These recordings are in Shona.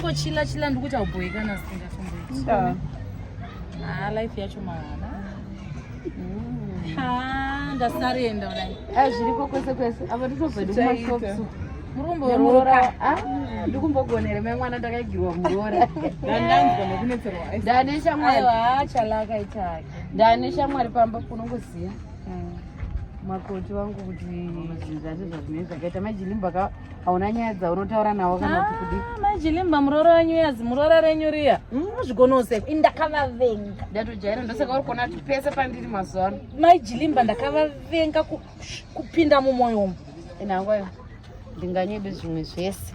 ngochila chila ndikuti aubhoikana singafumboiti ah, life yacho mahala mm. ndasarenda kudai ah, zviriko kwese kwese apa nditozodikumasosu ndikumbogonere me mwana ndakaigirwa muroora ndane shamwari pamba kunongoziva mm. makoti vangu kuti zvinhu zvacho zvazvinei zvakaita majilimba ka hauna nyaya dzaunotaura navo kana kuti kudi ah, majilimba muroora wenyu yazi muroora renyu riya muzvigonoseko hmm, ndakavavenga ndatojaira ndosaka uri kuona kuti pese pandiri mazuva ano majilimba ndakavavenga kupinda mumwoyo umu inangoyo ndinganyebe zvimwe zvese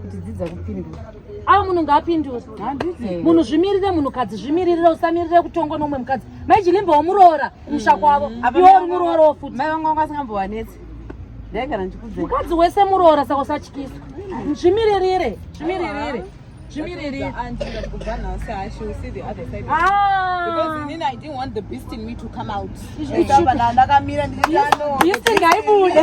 kuti dzidza kupindura avo munhu ngaapindure munhu zvimiririre munhukadzi zvimiririre usamiririre kutongwa neumwe mukadzi mai chilimba womuroora kumusha mm. kwavo iwe uri muroora wo futi mai vanga vanga vasingambovanetsi ndaigara ndichikudze mukadzi wese muroora saka usatyiswa zvimiririre zvimiririre zvimiririre ndaibude